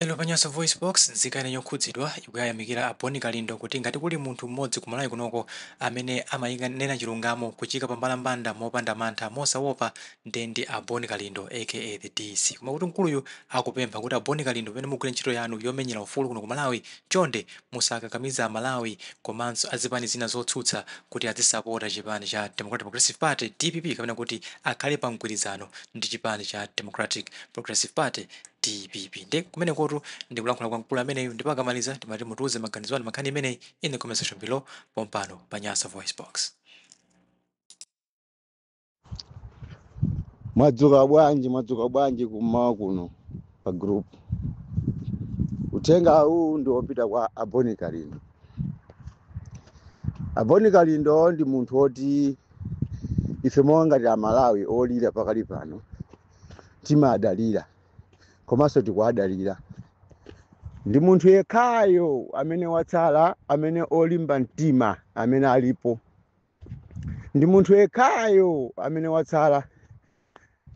Lero pa Nyasa VoiceBox, nzika ina yokhudzidwa ikuyayamikira a Bon Kalindo kuti ngati kuli munthu mmodzi ku Malawi kunoko amene amanena chilungamo kuchiika pambalambanda mopanda mantha, mosaopa, nde ndi a Bon Kalindo aka the DC. Koma kuti mkuluyu akupempha kuti a Bon Kalindo pamene mukugwira ntchito yanu yomenyera ufulu kuno ku Malawi, chonde musakakamize a Malawi komanso a zipani zina zotsutsa kuti adzisapota chipani cha Democratic Progressive Party, dpp, kapena kuti akhale pa mgwirizano ndi chipani cha Democratic Progressive Party, dpp nde kumenekotu ndikulankhula kwa mkulu ameneyu ndipo akamaliza timati mutiuze maganizo anu pa nkhani imeneyi in the comment section below pompano pa nyasa voice box mwadzuka bwanji mwadzuka bwanji kummawa kuno pa group uthenga uwu ndi wopita kwa a bon kalindo a bon kalindo ndi munthu woti ife monga ngati amalawi olira pakali pano timawadalira komanso tikuwadalira ndi munthu yekhayo amene watsala amene olimba mtima amene alipo ndi munthu yekhayo amene watsala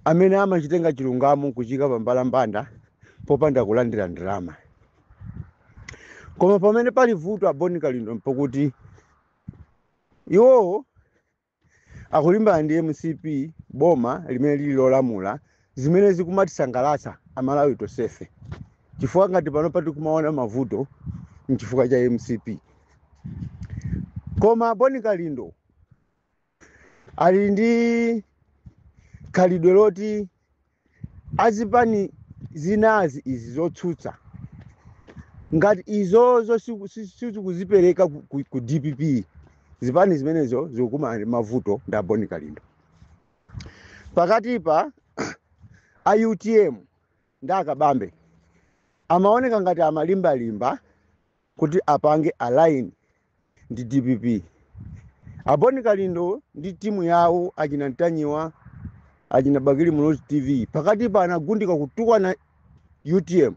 amene amachitenga chilungamo kuchiika pambalambanda popanda kulandira ndalama koma pamene pali vuto a bon kalindo mpokuti iwowo akulimbana ndi mcp boma limene lili lolamula zimene zikumatisangalatsa amalawi tonsefe chifukwa ngati panopa tikumaona mavuto mchifukwa cha mcp koma a bon kalindo ali ndi khalidwe loti azipani zinazi izi zotsutsa ngati izozo siku- si- sizikuzipereka ku, ku, ku dpp zipani zimenezo zikukumana ndi mavuto ndi a bon kalindo pakatipa a utm ndi a kabambe amaoneka ngati amalimbalimba kuti apange align ndi dpp a bon kalindo ndi timu yawo achina ntanyiwa achina bakili muluzi tv pakatipa anagundika kutukwana utm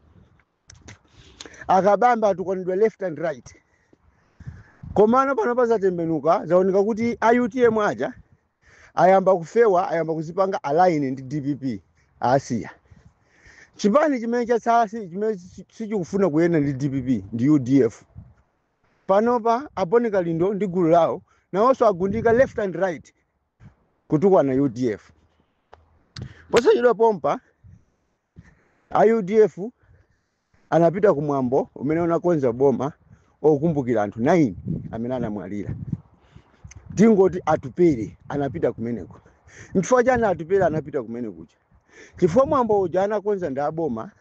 a kabambe atukwanidwa left and right komano panopa zatembenuka zaoneka kuti a utm aja ayamba kufewa ayamba kuzipanga align ndi dpp asiya chipani chimene chatsala si- chimene si- sichikufuna kuyenda ndi dpp ndi udf panopa a bon kalindo ndi gulu lawo nawonso agundika left and right kutukwana udf posachedwa pompa A UDF anapita ku mwambo umene unakonza boma okumbukira anthu 9 amene anamwalira. Tingoti Atupele anapita kumeneko. Nchifukwa chani Atupele anapita kumeneko? Chifukwa mwambo uja anakonza ndi aboma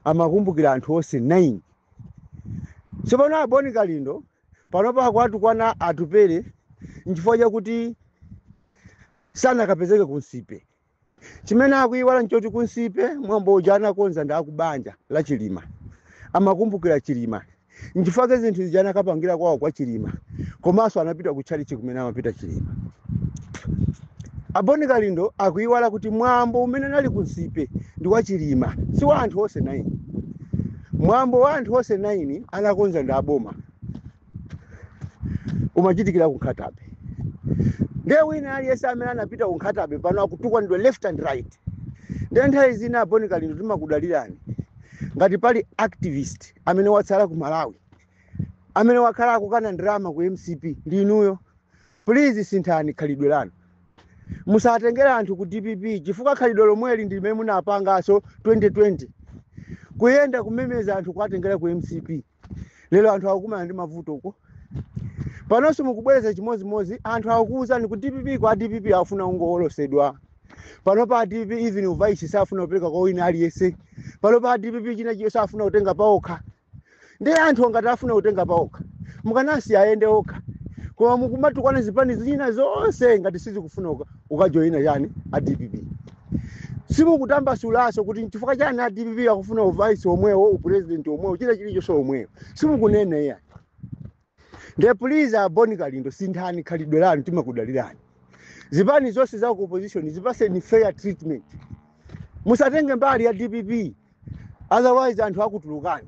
amakumbukira anthu onse 9. Tsopano a Boni Kalindo panopa akuwatukwana Atupele nchifukwa chakuti sanakapezeke ku Nsipe. chimene akuyiwala nchoti ku Nsipe mwambo uja anakonza ndi akubanja la Chilima amakumbukira Chilima nchifukwa zinthu zija anakapangira kwawo kwa Chilima komanso anapita kutchalitchi kumene amapita Chilima a Boni Kalindo akuyiwala kuti mwambo umene unali ku Nsipe ndi wa Chilima si wa anthu onse 9 mwambo wa anthu onse 9 anakonza ndi aboma umachitikira ku Nkhata Bay ndiye wina aliyense amene anapita ku Nkhata Bay pano akutukwanidwa left and right ndiye nthawi zina a Boni Kalindo timakudalirani ngati pali activist amene watsala ku Malawi amene wakhala akukana ndalama ku MCP ndi inuyo please sinthani khalidwe lanu musatengere anthu ku DPP chifukwa khalidwe lomweli ndi limene munapanganso 2020 kuyenda kumemeza anthu kuwatengera ku MCP lero anthu akukumana ndi mavuto uko panonso mukubwereza chimodzimodzi anthu akukuwuzani ku DPP kuti a DPP afuna ungowolosedwa panopa a DPP even uvaisi safuna kupereka kwa wina aliyense panopa a DPP china chilichonse afuna kutenga paokha ndiye anthu ngati afuna kutenga paokha mukanasiya ayende okha koma mukumatukwana zipani zina zonse ngati zisakufuna uka- ukajoyina chani a DPP simukutambasulaso kuti nchifukwa chani a DPP akufuna uvice omwewo upresident omwewo china chilichonse omwewo simukunena iyayi nde please a Boni Kalindo sinthani khalidwe lanu timakudalirani zipani zonse za ku opposition zipaseni fair treatment musatenge mbali ya DPP otherwise anthu akutulukani